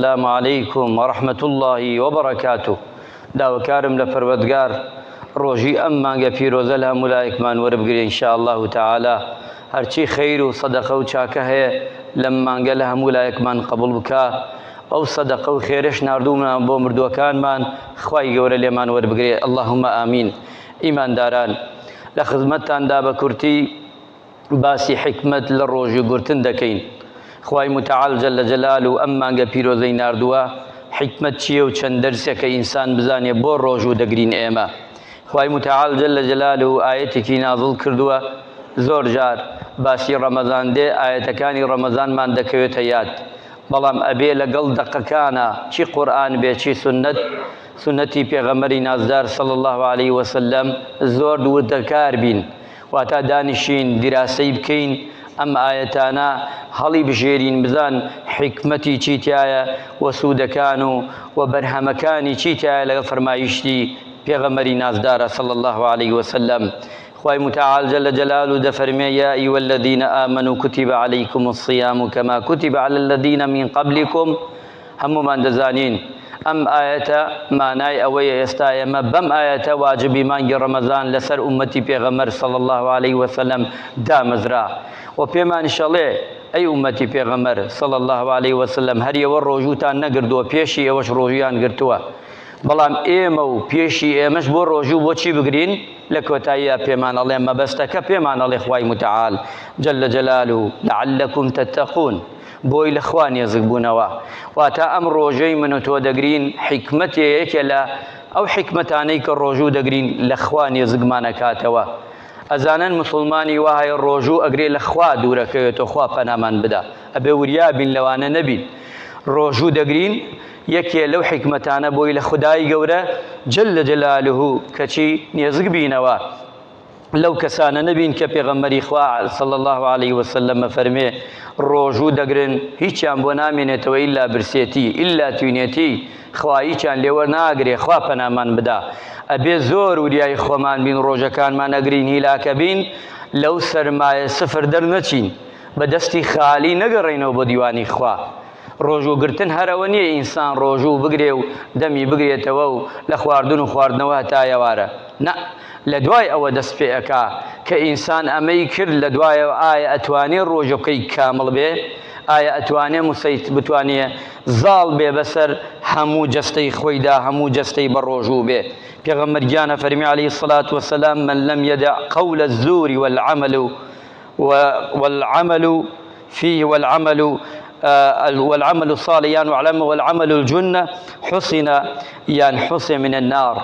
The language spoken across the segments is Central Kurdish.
السلام علیکم ورحمت اللە وبرکاتو داوکارم لە پەروەدگار ڕۆژی ئەم مانگە پیرۆزە لە هەموو لایەکمان وەربگرێ ان شاء الله تعالی هەرچی خیر و صدقە و چاکە هەیە لەم مانگە لە هەموو لایەکمان قبول بکە ئەو صدقە و خێرش ناردوومان بۆ مردووەکانمان خوای گەورە لێمان وەربگرێ اللهم آمین ئیمانداران لە خزمەتتاندا بە کورتی باسی حیکمەت لە ڕۆژوو گرتن دەکەین خوای متعال جل جلال و ئەم مانگە پیرۆزەی ناردووە حیکمەت چییە و چەند دەرسێکە ئینسان بزانێ بۆ ڕۆژوو دەگرین ئێمە خوای متعال جل جلال و ئاەتێکی نازڵ کردووە زۆر جار باسی ڕەمەزان دێ ئاەتەکانی ڕەمەزانمان دەکەوێتە یاد بەڵام ئەبێ لەگەڵ دەقەکانە چی قورآن بێ چی سنت سنەتی پێغەمەری نازدار صلی الله عليه وسلم زۆر دوور دەکار بین واتە دانیشین دیراسەی بکەین ئەم ئایەتانە هەڵی بژێرین بزان حیکمەتی چی تایە و سوودەکان و و بەرهەمەکانی چی تایە لەگەڵ فەرمایشتی پێغەمەری نازدارە صلی الله علیه وسلم خوای متعال جل جلال و دەفەرمێ یا ایو الذین آمنوا کتب علیکم الصیام کما کتب علی الذین من قبلکم هەموومان دەزانین ئەم ئایەتە مانای ئەوەیە ئێستا ئێمە بەم ئایەتە واجبی مانگی ڕەمەزان لەسەر ئومەتی پێغەمەر صلی الله علیه وسلم دامەزرا و پێمان شەڵێ ئەی ئومەتی پێغەمەر صلی الله علیه وسلم هەریەوە ڕۆژووتان نەگردووە پێشی ئێوەش ڕۆژویان گرتووە بەڵام ئێمە و پێشی ئێمەش بۆ ڕۆژوو بۆچی بگرین لە کۆتاییە پێمان ئەڵێ مەبەستەکە پێمان ئەڵێ خوای متعال جل جلاله لعلكم تتقون بۆی لە خوا نێزک بوونەوە واتە ئەم ڕۆژەی من و تۆ دەگرین حیکمەتێ یەکێ لە ئەو حیکمەتانەی کە ڕۆژوو دەگرین لە خوا نێزگمانەکاتەوە ئەزانن مسلمانی وایە ڕۆژوو ئەگرێ لە خوا دوورەکەوێتەوە خوا پەنامان بدا ئەبێ وریابین لەوانە نەبین ڕۆژوو دەگرین یەکێ لەو حیکمەتانە بۆی لە خودایی گەورە جل لە جەلالهوو کەچی نێزگ بینەوە لەو کەسانە نەبین کە پێغەمبەری خوا صلی الله علیه وسلم فەرمێ ڕۆژوو دەگرن هیچیان بۆ نامێنێتەوە ئیلا برسێتی ئیلا توینێتی خواییان لێوە ناگرێ خوا پەنامان بدا ئەبێ زۆر وریای خۆمان بین ڕۆژەکانمان ئەگرین هیلاکە بین لەو سەرمایە سفر دەرنەچین بە دەستی خالی نەگەڕێنەوە بۆ دیوانی خوا ڕۆژوگرتن هەرەوە نییە ئینسان ڕۆژوو بگرێ و دەمی بگرێتەوە و لە خواردن و خواردنەوە هەتا ئێوارە نە لە دوای ئەوە دەست پێ ئەکا کە ئینسان ئەمەی کرد لە دوایەوە ئایا ئەتوانێ ڕۆژ و کەی کامڵ بێ؟ ئایا ئەتوانێ مسەیت بتوانێ زاڵ بێ بە سەر هەموو جەستەی خۆی دا هەموو جەستەی بە ڕۆژوو بێ؟ پێغەمبەر گیان ئەفەرمی علیە الصلوە و السلام من لم یدع قول الزور و العمل و العمل فیه والعمل والعمل الصالح یان وعلم والعمل الجنة حسن یان حسن من النار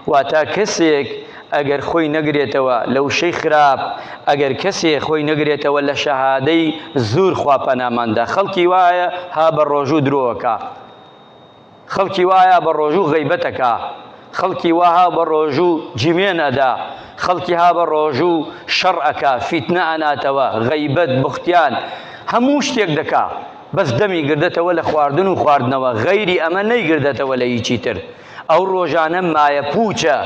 واتا کەسێک ئەگەر خۆی نەگرێتەوە لە وشەی خراپ ئەگەر کەسێ خۆی نەگرێتەوە لە شەهادەی زور خوا پەناماندا خەڵکی وایە ها بە ڕۆژوو درۆکە خەڵکی وایا بە ڕۆژوو غەیبەت ئەکا، خەڵکی وا ها بە ڕۆژوو جمێن ئەدا، خەڵکی ها بە ڕۆژوو شەڕ ئەکا، فیتنە ئەناتەوە، غەیبەت، بوختیان، هەموو شتێک دەکا، بەس دەمی گردەتەوە لە خواردن و خواردنەوە، غەیری ئەمە نەیگردەتەوە لە هیچی تر. ئەو ڕۆژانە مایە پووچە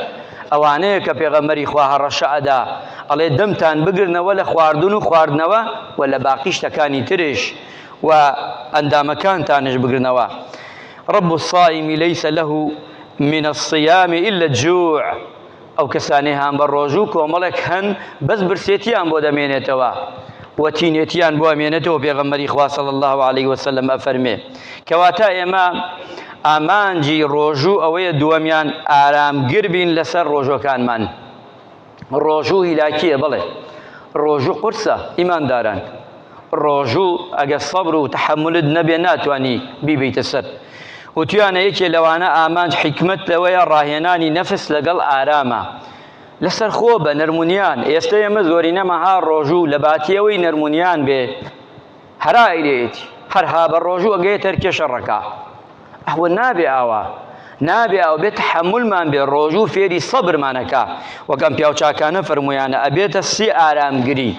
ئەوانەیە کە پێغەمبەری خوا هەڕەشە ئەدا، ئەڵێ دەمتان بگرنەوە لە خواردن و خواردنەوە و لە باقی شتەکانی ترش، و ئەندامەکانتانش بگرنەوە، رب الصائم لیس له من الصیام الا الجوع، ئەو کەسانەی هانبە رۆژوو کۆمەڵێک هەن بەس برسێتیان بۆ دەمێنێتەوە و تینێتیان بۆ ئەمێنێتەوە پێغەمبەری خوا صلی اللە علیە وسلم ئەفەرمێ کەواتە ئێمە ئامانجی رۆژوو ئەوەیە دووەمیان ئارامگر بین لەسەر رۆژووەکانمان. ڕۆژوو هیلاکیە بەڵێ ڕۆژوو قورسە ئیمانداران ڕۆژوو ئەگەر سەبر و تحملت نەبێ ناتانی بیبیتە سەر وتویانە یەکێ لەوانە ئامانج حیکمت لەوەیە ڕاهێنانی نەفس لەگەڵ ئارامە لەسەر خۆ بە نەرمونیان ئێستا ئێمە زۆرینەمەها ڕۆژوو لە باتیەوەی نەرمونیان بێ هەرا ئەیلێیەتی هەر ها بە ڕۆژو ئەگەیەت هەر کێشە ڕەکا ئەوە نابێ ئاوا نابێ ئەو بێت تحملمان بێ ڕۆژو فێری سەبرمانەکە وەک ئەم پیاو چاکانە فەرمویانە ئەبێتە سی ئارامگری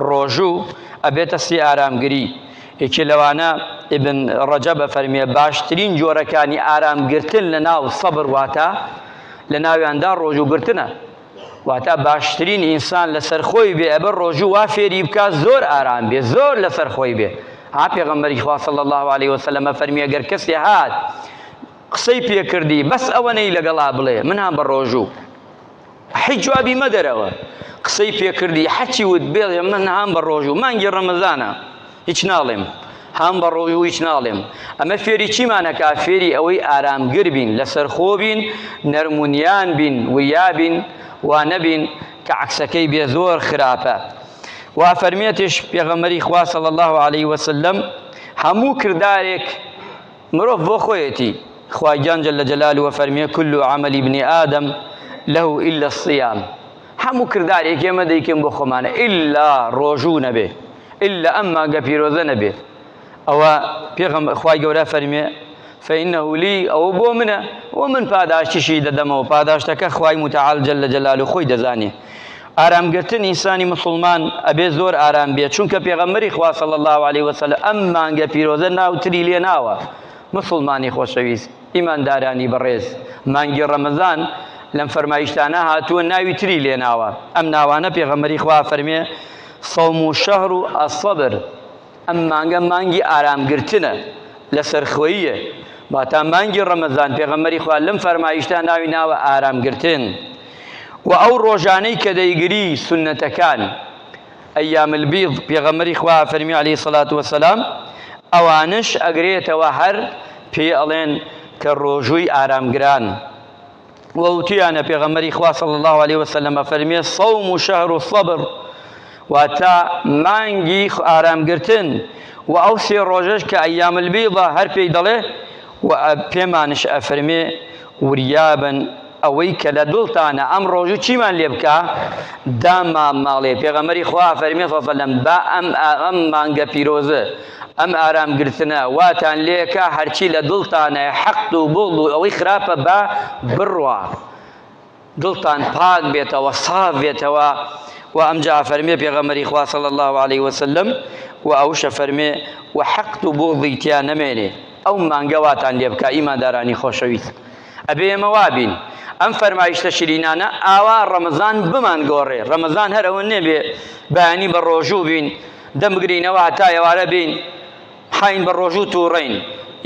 ڕۆژو ئەبێتە سی ئارامگری یەکێ لەوانە ئیبن ڕەجەب ئەفەرمێ باشترین جۆرەکانی ئارامگرتن لە ناو سەبر واتە لە ناویاندا ڕۆژوگرتنە واتا باشترین ئینسان لەسەر خۆی بێ ئەبەر ڕۆژوو وا فێری بکا زۆر ئارام بێ زۆر لەسەر خۆی بێ ها پێغەمبەری خوا صلی الله علیه وسلم فەرمی ئەگەر کەسێ هات قسەی پێکردی بەس ئەوەنەی لەگەڵا بڵێ من هەم بە ڕۆژوو هیچ جوابی مەدەرەوە قسەی پێکردی حەچی وت بێڵێ من هەم بە ڕۆژوو مانگی ڕەمەزانە هیچ ناڵێم هام بە ڕۆوی و هیچ ناڵێم ئەمە فێری چیمانەکە فێری ئەوەی ئارامگر بین لەسەر خۆ بین نەرمونیان بین وریا بین وا نەبین کە عکسەکەی بێ زۆر خراپە وا فەرمیێتش پێغەمەری خوا صلی الله عليه وسلم هەموو کردارێک مرۆڤ بۆ خۆیەتی، خوای گیان جل جلالە فەرمیێ، کل عمل ابن آدم له الا الصیام، هەموو کردارێک ئێمە دەیکەین بۆ خۆمانە الا ڕۆژوو نەبێ، الا ئەم مانگە پیرۆزە نەبێ، ئەوە پێغەمبەر خوای گەورە فەرمیێ، فانه لی، ئەوە بۆ منە و من پاداشتیشی دەدەمەوە، پاداشتەکە خوای متعال جل جلالە خۆی دەزانێ. ئارام گرتن ئینسانی موسڵمان ئەبێ زۆر ئارام بێت چونکە پێغەمبەری خوا صلی اللە علیه وسلم ئەم مانگە پیرۆزە ناوتری لێ ناوە مسلمانی خۆشەویست ئیماندارانی بەڕێز مانگی ڕەمەزان لەم فەرمایشتانە هاتووە ناوی تری لێناوە ئەم ناوانە پێغەمەری خوا فەرمێ صوم و شهر و الصبر ئەم مانگە مانگی ئارامگرتنە لەسەرخۆییە واتا مانگی ڕەمەزان پێغەمەری خوا لەم فەرمایشتا ناوی ناوە ئارامگرتن و ئەو ڕۆژانەی کە دەیگری سنەتەکان ئەیام البیض پێغەمەری خوا فەرمی علی سەلات وسلام ئەوانش ئەگرێتەوە هەر پێ ئەڵێن کە ڕۆژووی ئارامگران و وتویانە پێغەمبەری خوا صلی الله علیه وسلم ئەفەرمێ صوم و شهر و صبر واتە مانگی ئارامگرتن و ئەو سێ ڕۆژەش کە ئەیام البیضە هەر پێی دەڵێ و پێمانش ئەفەرمێ وریابن ئەوەی کە لە دڵتانە ئەم ڕۆژ و چیمان لێ بکە داما ماڵێ پێغەمەری خوا فەرمی سەسەلم با ئەم ئەم مانگە پیرۆزە ئەم ئارام گرتنە واتان لێکا هەرچی لە دڵتانە حەقد و بوغد و ئەوەی خراپە با بڕوا دڵتان پاک بێتەوە ساف بێتەوە و ئەمجا فەرمێ پێغەمەری خوا صلی الله علیه وسلم و ئەوشە فەرمێ و حەقد و بوغدی تیا نەمێنێ ئەو مانگە واتان لێ بکا ئیماندارانی خۆشەویست ئەبێ ئێمە وابین ئەم فەرمایشتە شیرینانە ئاوا ڕەمەزان بمانگۆڕێ ڕەمەزان هەر ئەوە نەبێ بەیانی بە ڕۆژوو بین دەم بگرینەوە هەتا ئێوارە بێین حاین بە ڕۆژوو تووڕەین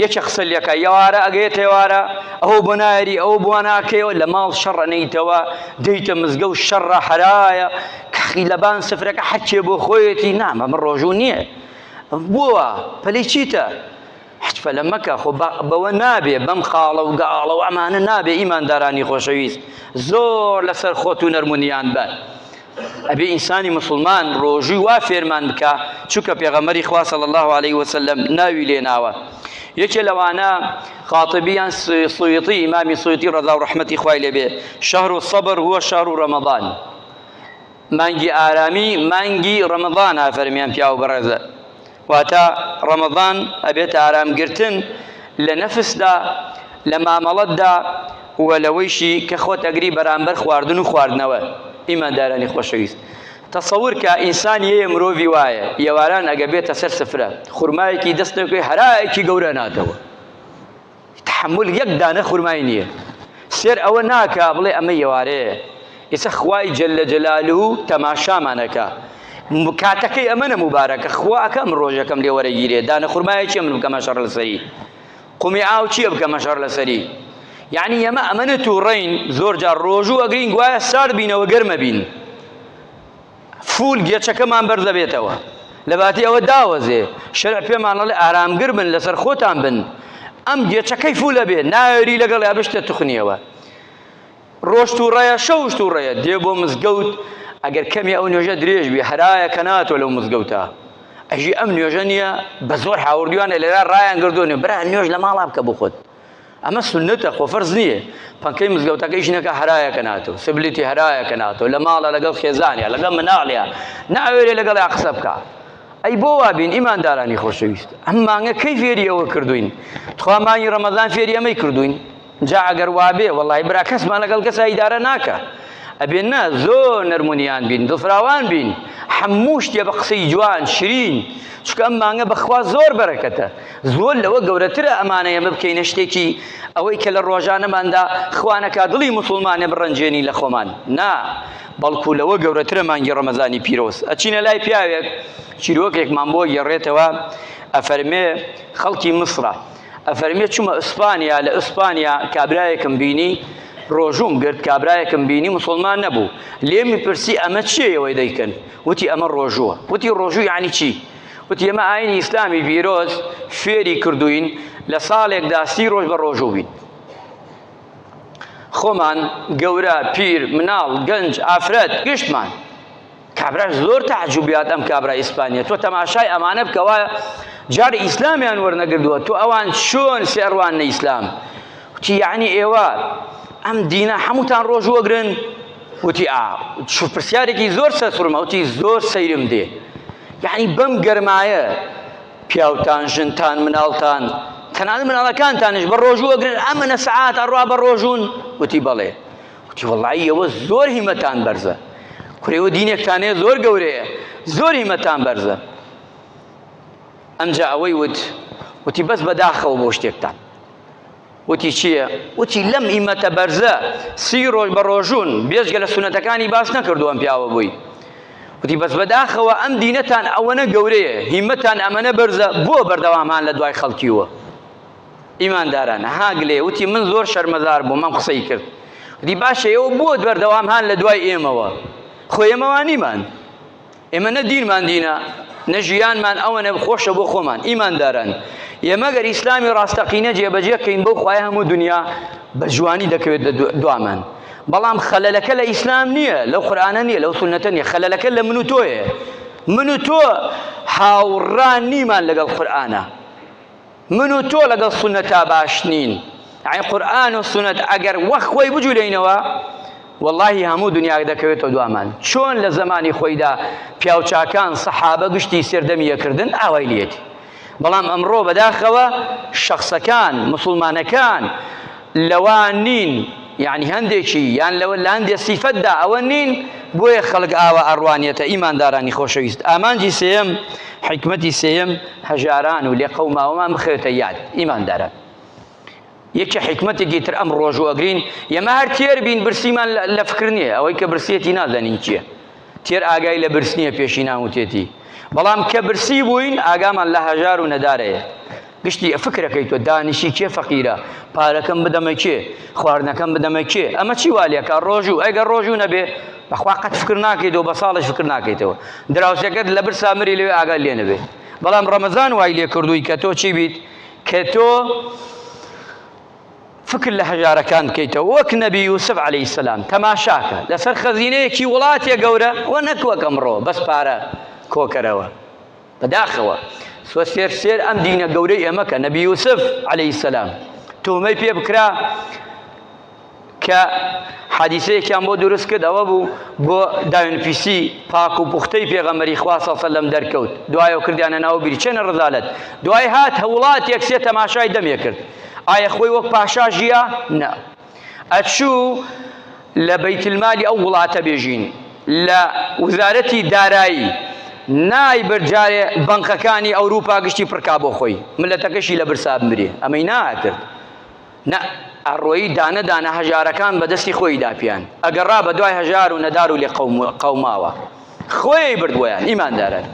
یەکێ قسە لەکە یەوارە ئەگەێت هێوارە ئەوە بۆ نایری ئەو بووە ناکەیەوە لە ماڵ شەڕە نیتەوە دیتە مزگە و شەڕە حەرایە کەخی لەبان سفرەکە حەچێ بۆ خۆیەتی نامە من ڕۆژوو نییە بووە پەلی چیتە حجفلە مەکە خۆ بەوە نابێ بەم خاڵە و گاڵە و ئەمانە نابێ ئیماندارانی خۆشەویست زۆر لەسەر خۆت و نەرمونیان بە ئەبێ ئینسانی مسلمان ڕۆژووی وا فێرمان بکە چونکە پێغەمەری خوا صلی الله عليه وسلم ناوی لێناوە یەکێ لەوانە خاطبیان سویتی ئیمامی سویتی ڕەزا و ڕەحمەتی خوای لێبێ شەهر و سەبر هو شەهر و ڕەمەضان مانگی ئارامی مانگی ڕەمەضان ئافەرمیان پیاو بەڕێزە واتە، ڕەمەزان ئەبێتە ئارام گرتن لە نەفسدا، لە مامەڵەتدا و لەوەیشی کە خۆت ئەگری بەرامبەر خواردن و خواردنەوە. ئیماندارانی خۆشەویست، تەسەور کە ئینسان یەیە مرۆڤی وایە، یەواران ئەگە بێتە سەر سفرە، خورمایەکی دەست نەکەوێت هەرایەکی گەورە ناتەوە. تەحەمول یەک دانە خورمای نییە سێر ئەوە ناکا بڵێ ئەمە یێوارەیە ئێستا خوای جل جلاله تەماشامانەکە کاتەکەی ئەمەە مبارەکە خواکە ئەم ڕۆژەکەم لێ وەرەگیرێ دانە خورمایە چێ من بکەمە شەڕ لەسەری قومی ئاو چییە بکەمە شەڕ لەسەری یعنی ئەمە ئەمەە تووڕین زۆر جار ڕۆژوو ئەگرین گوایە سارد بینەوە گەرمە بین فوول گێچەکەمان بەر دەبێتەوە لەباتی ئەوە داوەزێ شەرع پێمان ئەڵێ ئارامگر بن لەسەر خۆتان بن ئەم گێچەکەی فوولە بێ ناوێری لەگەڵ یا بشتە تخنیەوە ڕۆشت و ڕێە شەوشت و ڕێە دێ بۆ مزگەوت ئەگەر کەمی ئەو نوێژە درێژ بێ هەرایە کە ناتۆ لەو مزگەوتە ئەژی ئەم نوێژە نییە بە زۆر هاوردویانە لێرا ڕایان گردوێ برا نوێژ لە ماڵا بکە بخۆت ئەمە سنتە خۆ فەرز نییە پەنکەی مزگەوتەکە ئیش نەکە هەرایە کە ناتۆ سبلیتی هەرایە کە ناتۆ لە ماڵە لەگەڵ خێزانە لەگەڵ مناڵە ناوێرێ لەگەڵ یا قسە بکە ئەی بۆ وابین ئیماندارانی خۆشەویست ئەم مانگە کەی فێری ئەوە کردوین تخوا مانگی ڕەمەزان فێری ئەمەی کردوین جا ئەگەر وابێ وەڵی برا کەسمان لەگەڵ کەسا ئیدارە ناکە ئەبێن نا زۆر نەرمونیان بین دڵفراوان بین هەموو شتێ بە قسەی جوان شرین چکە ئەم مانگە بەخوا زۆر بەرەکەتە زۆر لەوە گەورەترە ئەمانە ئێمە بکەینە شتێکی ئەوەی کە لە ڕۆژانەماندا خوا نەکا دڵی موسڵمانێ بڕەنجێنی لە خۆمان نا بەڵکو لەوە گەورەترە مانگی ڕەمەزانی پیرۆز ئەچینە لای پیاوێک چیرۆکێکمان بۆ گێڕێتەوە ئەفەرمێ خەڵکی مسرە ئەفەرمێ چوومە ئیسپانیا لە ئیسپانیا کابرایەکم بینی ڕۆژوم گرت کابرایەکم بینی مسلمان نەبوو لێمی پرسی ئەمە چیەوەی دەیکەن وتی ئەمە ڕۆژووە وتی ڕۆژوو یعنی چی؟ وتی، ئێمە ئایینی ئیسلامی پیرۆز فێری کردووین، لە ساڵێکدا سی ڕۆژ بە ڕۆژوو بین. خۆمان گەورە، پیر، مناڵ، گەنج، ئافرەت گشتمان. کابراش زۆر تەعجوبیات ئەم کابرا ئیسپانیە، تۆ تەماشای ئەمانە بکە وا جار ئیسلامیان وەرنەگردووە، تۆ ئەوان چۆن سێڕواننە ئیسلام؟ وتی، یەعنی ئێوە ئەم دینە هەمووتان ڕۆژوو ئەگرن؟ وتی ئا چ پرسیارێکی زۆر سەرسوڕم ئەوتی زۆر سەیرم دێ یعنی بەم گەرمایە پیاوتان ژنتان مناڵتان تەنانەت مناڵەکانتانش بە ڕۆژوو ئەگرن ئەمەە سەعات ئەڕوا بە ڕۆژون وتی بەڵێ وتی وڵی ئەوە زۆر هیمەتان بەرزە کوێوە دینێکتانێ زۆر گەورەیە زۆر هیمەتان بەرزە ئەمجا ئەوەی وت وتی بەس بەداخەوە بۆ شتێکتان وتی چییە؟ وتی لەم ئیمەتە بەرزە سی ڕۆژ بە ڕۆژون بێجگە لە سونەتەکانی باش نەکردو ئەم پیاوە بووی وتی بەس بەداخەوە ئەم دینەتان ئەوەنە گەورەیە هیمەتان ئەمەنە بەرزە بۆ بەردەوامهان لە دوای خەڵکیوە ئیمانداران هاگلێ وتی من زۆر شەرمەزار بووم ئەم قسەی کرد وتی باشە ئێوە بۆ بەردەوامهان لە دوای ئێمەوە خۆ ئێمەوانیمان ئێمە نە دینمان دینە نە ژیانمان ئەوەنە خۆشە بۆ خۆمان ئیمانداران ئێمەگەر ئیسلامی ڕاستەقینە جێبەجێکەین بەو خوای هەموو دنیا بە جوانی دەکەوێت دوامان بەڵام خەلەلەکە لە ئیسلام نییە لەو قورآانە نییە لەو سنەتە نیە خەلەلەکە لە من و تۆیە من و تۆ هاوڕان نیمان لەگەڵ قورآانە من و تۆ لەگەڵ سوننەتا باش نین، یانی قورئان و سوننەت ئەگەر وەک خۆی بجولێینەوە وەڵاهی هەموو دونیا دەکەوێتەوە دوامان، چۆن لە زەمانی خۆیدا پیاوچاکان سەحابە گشتی سەردەمی یەکردن ئاوای لێتی، بەڵام ئەمڕۆ بەداخەوە شەخسەکان، موسوڵمانەکان، لەوە نین یەعنی هەندێکی یان لەوە لە هەندێ سیفەتدا ئەوە نین بۆیە خەڵک ئاوا ئەڕوانیەتە ئیماندارانی خۆشەویست ئامانجی سێیەم حیکمەتی سێیەم هەژاران و لێقەوماوەمان بخەوێتە یاد ئیمانداران یەکی حیکمەتێکی تر ئەم ڕۆژوەگرین یەمە هەر تێر بین برسیمان لە فکر نییە ئەوەی کە برسیەتی نازانین چییە تێر ئاگای لە برس نییە پێشینان وتێتی بەڵام کە برسی بووین ئاگامان لە هەژار و نەدارەیە گشتی فکرەکەی تۆ دانیشی کێ فەقیرە پارەکەم بدەمە کێ خواردنەکەم بدەمە کێ ئەمە چی والەکە ڕۆژوو ئەگەر ڕۆژوو نەبێ بەخوا قەت فکر ناکەیتەوە بە ساڵش فکر ناکەیتەوە دراوسەکەت لە بر سامری لەوێ ئاگا لێ نەبێ بەڵام ڕەمەزان وای لێ کردووی کە تۆ چی بیت کە تۆ فکر لە هەژارەکان بکەیتەوە وەک نەبی یوسف عەلەیهی السلام تەماشاکە لەسەر خەزینەیەکی وڵاتێ گەورە وە نەک وەک ئەمڕۆ بەس پارە کۆکەرەوە بەداخەوە سوەسێر سێر ئەم دینە گەورەی ئێمەکە نەبی یوسف عەلەیهی السلام تومەی پێ بکرا کە حادیسەیەکیان بۆ دروست کرد ئەوە بوو بۆ داوێن پیسی پاک و پوختەی پێغەمبەری خوا صلی الله علیه و سلم دەرکەوت دوای ئەو کردیانە ناو بیر چێنە ڕزالەت دوای هات هەوڵات یەک سێ تەماشای دەمێ کرد ئایا خۆی وەک پاشا ژیا نە ئەچوو لە بیت المالی ئەو وڵاتە بێژین لە وزارەتی دارایی نای برجارێ بنکەکانی ئەوروپا گشتی پڕکا بۆ خۆی ملەتەکەشی لە برسا بمرێ ئەمەی ناکرد نە ئەڕۆیی دانە دانە هەژارەکان بە دەستی خۆی داپیان ئەگەڕا بە دوای هەژار و نەدار و لێ قەوماوە خۆی بردوویان ئیماندارن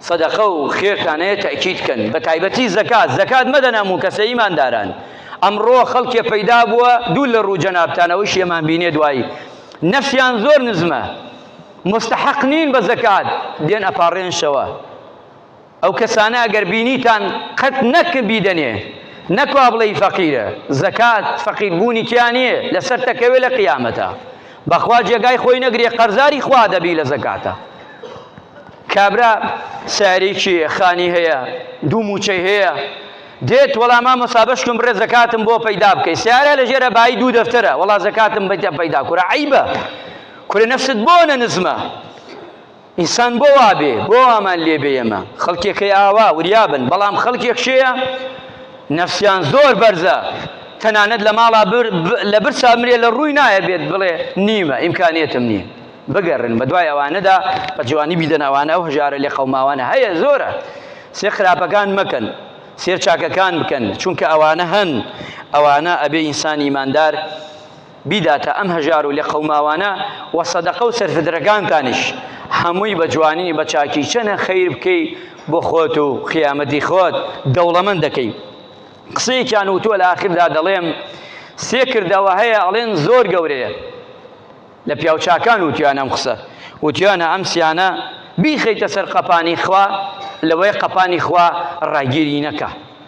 صدقە و خێرتانەیە تەکیید کەن بە تایبەتی زەکات زەکات مەدەنەم و کەسە ئیمانداران ئەمڕۆ خەڵکێ پەیدا بووە دوو لە ڕوو جەنابتانەوەی شێمان بینێ دوایی نەفسیان زۆر نزمە مستحق نین بە زەکات دێن ئەپاڕێنشەوە ئەو کەسانە ئەگەر بینیتان قەت نەک بیدەنێ نەک وا بڵێی فەقیرە زەکات فەقیر بوونی تیا نیە لەسەر تەکەوێ لە قیامەتە بەخوا جێگای خۆی نەگرێ قەرزاری خوا دەبی لە زەکاتە کابرا سارێکی خانی هەیە دوو موچەی هەیە دێت وەڵا مامە سابشکم بڕێ زەکاتم بۆ پەیدا بکەی سیارە لە ژێرە بای دوو دەفتەرە وەڵا زەکاتم بەیتە پەیدا کورە عیبە کورە نەفست بۆ نە نزمە ئینسان بۆ وا بێ؟ بۆ وامان لێ بێ ئێمە؟ خەڵکێکەی ئاوا وریا بن، بەڵام خەڵکێک شێیە نەفسیان زۆر بەرزە، تەنانەت لە ماڵا بر لە برسا مرێ لە ڕووی نایە بێت بڵێ نیمە ئیمکانیەتم نییە. بگەڕێن بە دوای ئەوانەدا بە جوانی بیدەن ئەوانە ئەو هەژارە لێ قەوماوانە هەیە زۆرە. سێ خراپەکان مەکەن سێر چاکەکان بکەن چونکە ئەوانە هەن ئەوانە ئەبێ ئینسان ئیماندار بیداتە ئەم هەژار و لێقەوماوانە وە سەدەقە و سەرفدرەکانتانیش هەمووی بە جوانی بە چاکی چەنە خیر بکەی بۆ خۆت و قیامەتی خۆت دەوڵەمەند دەکەی قسەیەکیان وتووە لە ئاخردا دەڵێم سێ کردەوە هەیە ئەڵێن زۆر گەورەیە لە پیاوچاکان وتیان ئەم قسە وتیانە ئەم سیانە بیخەیتە سەر قەپانی خوا لەوەی قەپانی خوا ڕاگیری نەکە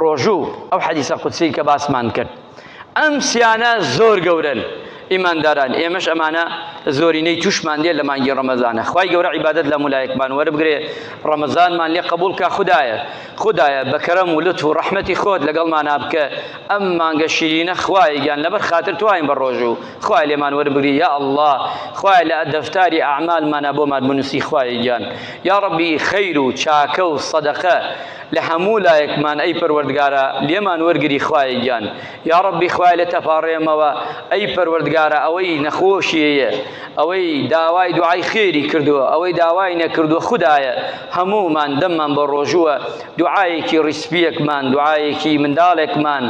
ڕۆژوو ئەو حەدیسە قودسی کە باسمان کرد ئەم سیانە زۆر گەورەن ئیمانداران ئێمەش ئەمانە زۆرینەی توشمان دێ لە مانگی ڕەمەزانە خی گەورە عیبادت لە مولایەکمان وەربگرێ ڕەمەزانمان لێ قبول کا خدایە خدایە بەکەرەم و لەت و ڕحمەتی خۆت لەگەڵمان نابکە ئەم مانگە شیرینە خوایگیان لەبەر خاتر تواین بە ڕۆژ و خوای لێمان وەربگری یا الله خوای لە دەفتاری ئەعمالمانە بۆمان بنووسی خوایگیان یا ڕبی خەیر و چاکە و سەدەقە لە هەموو لایەکمان ئەی پەروەردگارە لێمان وەرگری خوایە گیان یا ڕەبی خوای لێ تەپاڕێمەوە ئەی پەروەردگارە ئەوەی نەخۆشیەیە ئەوەی داوای دوعای خێری کردووە ئەوەی داوای نەکردووە خودایە هەموومان دەممان بە ڕۆژووە دوعاەکی ڕیسپیەکمان دوعاەکی منداڵێکمان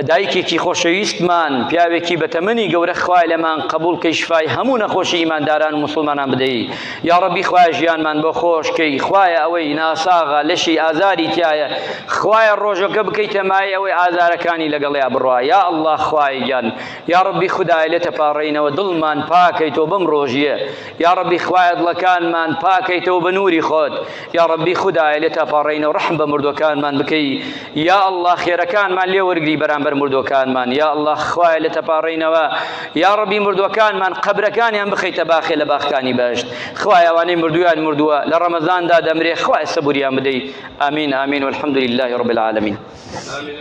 دایکێکی خۆشەویستمان پیاوێکی بەتەمەنی گەورە خوایە لێمان قەبوڵ کەی شفای هەموو نەخۆشی ئیمانداران و موسڵمانان بدەی یاڕەبی خوایە ژیانمان بۆ خۆش کەی خوایە ئەوەی ناساغە لەشی ئازاری تیایە خوایە ڕۆژەکە بکەیتە مایەی ئەوەی ئازارەکانی لەگەڵیا بڕا یا اللە خوایە گیان یاڕەبی خودایە لێتە پاڕێینەوە دڵمان پاکەیتەوە بەم ڕۆژیە یاڕەبی خوایە دڵەکانمان پاکەیتەوە بە نوری خۆت یا ڕەبی خودایە لێ تاپاڕێینەوە ڕەحم بە مردوەکانمان بکەی یا ئەلله خێرەکانمان لێ وەرگری بەرامبەر مردوەکانمان یا ئەلله خوایە لێ تەپاڕێینەوە یا ڕەبی مردوەکانمان قەبرەکانیان بخەیتە باخێ لە باخکانی بەشت خوایەوانەی مردویان مردووە لە ڕەمەزاندا دەمرێ خوای سەبوریان بدەی ئامین ئامین والحمد لله رب العالمین